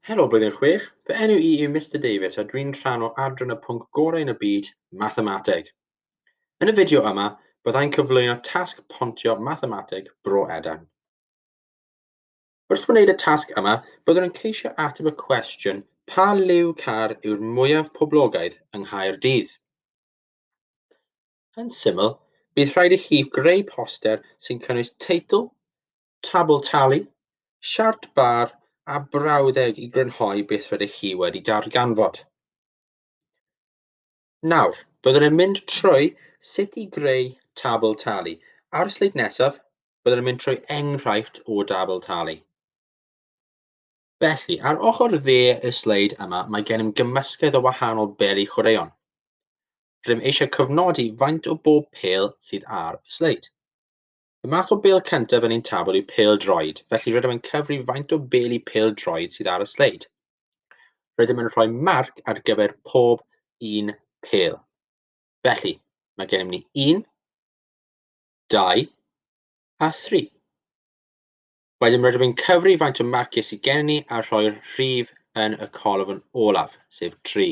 Helo Blwyddyn Chwech, fy enw i yw Mister Davies a dwi'n rhan o adran y pwnc gorau yn y byd, Mathemateg. Yn y fideo yma, byddai'n cyflwyno tasg pontio Mathemateg Bro Edan. Wrth wneud y tasg yma, byddwn yn ceisio ateb y cwestiwn pa liw car yw'r mwyaf poblogaidd yng Nghaerdydd? Yn syml, bydd rhaid i chi greu poster sy'n cynnwys teitl, tabl talu, siart bar a brawddeg i grynhoi beth rydych chi wedi darganfod. Nawr, byddwn yn mynd trwy sut i greu tabl talu. Ar y sleid nesaf, byddwn yn mynd trwy enghraifft o dabl talu. Felly, ar ochr dde y sleid yma, mae gennym gymysgedd o wahanol beli chwaraeon. Rydym eisiau cofnodi faint o bob pel sydd ar y sleid. Y math o bêl cyntaf yn ein tabl yw pêl droed, felly rydym yn cyfri faint o bêl i pêl droed sydd ar y sleid. Rydym yn rhoi marc ar gyfer pob un pêl. Felly, mae gennym ni 1, 2 a 3. Wedyn rydym yn cyfri faint o marciau sydd gen ni a rhoi'r rhif yn y colofn olaf, sef 3.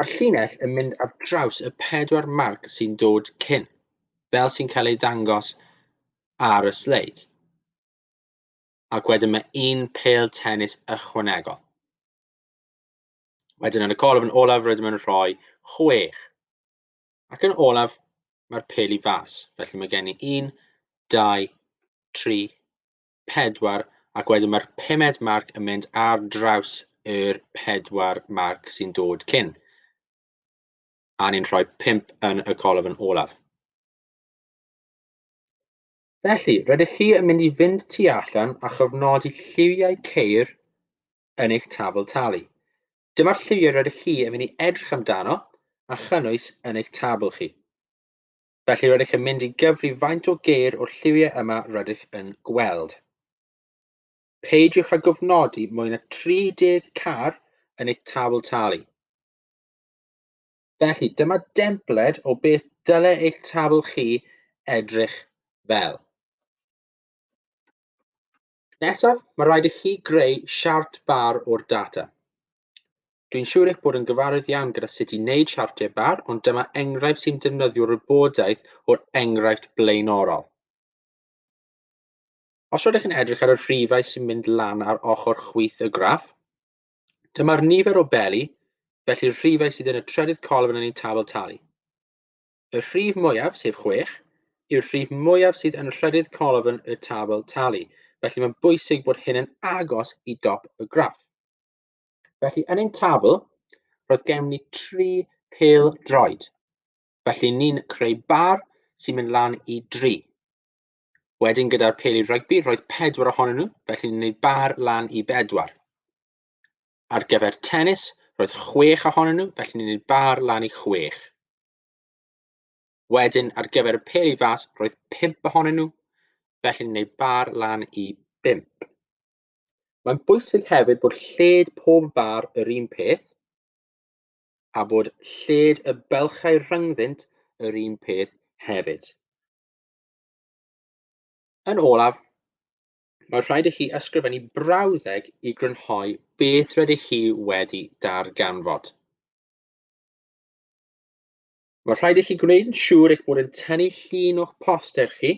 Mae'r llinell yn mynd ar draws y pedwar marc sy'n dod cyn, fel sy'n cael ei ddangos ar y sleid. Ac wedyn mae un pel tennis ychwanegol. Wedyn yn y colofn olaf rydym yn rhoi chwech. Ac yn olaf, mae'r pel i fas. Felly mae gen i un, dau, tri, pedwar ac wedyn mae'r pumed marc yn mynd ar draws yr pedwar marc sy'n dod cyn. A ni'n rhoi pump yn y colofn olaf. Felly, rydych chi yn mynd i fynd tu allan a chofnodi lliwiau ceir yn eich tabl talu. Dyma'r lliwiau rydych chi yn mynd i edrych amdano a chynnwys yn eich tabl chi. Felly rydych yn mynd i gyfri faint o geir o'r lliwiau yma rydych yn gweld. Peidiwch â gofnodi mwy na 30 car yn eich tabl talu. Felly, dyma dempled o beth dyle eich tabl chi edrych fel. Nesaf, mae rhaid i chi greu siart bar o'r data. Dwi'n siŵr eich bod yn gyfarwydd iawn gyda sut i wneud siartiau bar, ond dyma enghraifft sy'n defnyddio wybodaeth o'r enghraifft blaenorol. Os rydych yn edrych ar y rhifau sy'n mynd lan ar ochr chwith y graff, dyma'r nifer o beli, felly'r rhifau sydd yn y trydydd colofn yn ein tabl talu. Y rhif mwyaf, sef 6, yw'r rhif mwyaf sydd yn rhydydd colofn y tabl talu, felly mae'n bwysig bod hyn yn agos i dop y graff. Felly, yn ein tabl, roedd gennym ni tri pel droed. Felly, ni'n creu bar sy'n mynd lan i dri. Wedyn gyda'r peli rygbi, roedd pedwar ohonyn nhw, felly ni'n gwneud bar lan i bedwar. Ar gyfer tennis, roedd chwech ohonyn nhw, felly ni'n ni'n bar lan i chwech. Wedyn, ar gyfer y pel i fas, roedd pimp ohonyn nhw, felly ni'n gwneud bar lan i bimp. Mae'n bwysig hefyd bod lled pob bar yr un peth, a bod lled y belchau rhyngddynt yr un peth hefyd. Yn olaf, Mae rhaid i chi ysgrifennu brawddeg i grynhoi beth rydych chi wedi darganfod. Mae rhaid i chi gwneud yn siŵr eich bod yn tynnu llun o'ch poster chi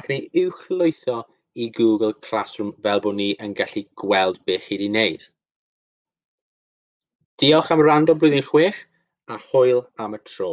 ac yn ei uwchlwytho i Google Classroom fel bod ni yn gallu gweld beth chi wedi wneud. Diolch am rando blwyddyn chwech a hwyl am y tro.